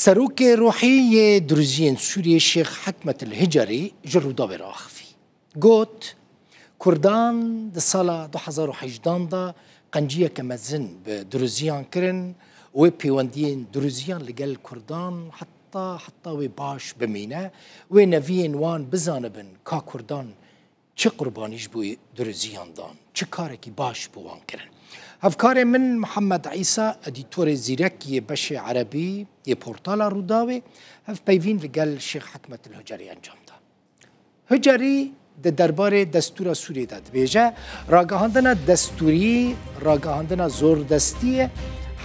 Serokê ruhî yê Duruziyên Sûriyê Şêx Hikmet El Hicarî ji Rûdawê re axivî. Got, Kurdan di sala du hezar û hejdan de qenciyeke mezin bi Duruziyan kirin û wê pêwendiyên Duruziyan li gel Kurdan heta heta wê baş bimîne, wê neviyên wan bizanibin ka Kurdan Çi qurbanî ji bo duriziyan dan, çi karekî baş bo wan kirin. Hevkarê min Mihemed Îsa, edîtorê zîrek yê beşê erebî yê portala Rûdawê hevpeyvîn li gel Şêx Hikmet Hucerî encam da. Hucerî di derbarê destûra Sûriyê de dibêje, Ragihandina destûrî ragihandina zordestî ye,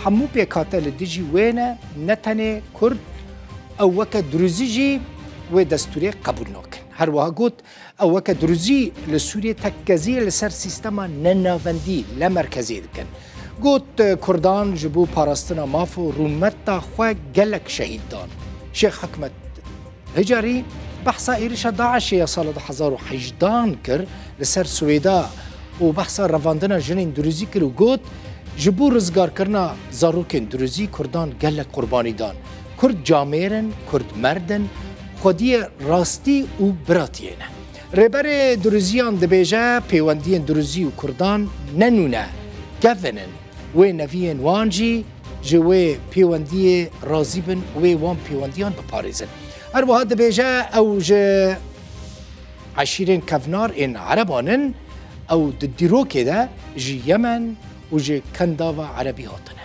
hemû pêkhate li dijî wê ne, ne tenê Kurd, ew weke durizî jî wê destûrê qebûl nakin. Her wiha got, Ew weke duruzî li Sûriyê tekkezî li ser sîstema nenavendî ne merkezî dikin. Got Kurdan ji bo parastina maf û rûmeta xwe gelek şehîd dan. Şêx Hikmet hicarî behsa êrişa DAIŞê ya sala du hezar û hejdan kir li ser Swêda û behsa revandina jinên duruzî kir û got, Ji bo rizgarkirina zarokên duruzî Kurdan gelek qurbanî dan. Kurd camêr in, Kurd merd in, xwediyê rastî û biratiyê ne. Rêberê Duruziyan dibêje pêwendiyên Duruzî û Kurdan ne nû ne, kevin in. Wê neviyên wan jî ji wê pêwendiyê razî bin û wê wan pêwendiyan biparêzin. Her wiha dibêje ew ji eşîrên kevnar ên ereban in, ew di dîrokê de ji Yemen û ji Kendava Erebî hatine.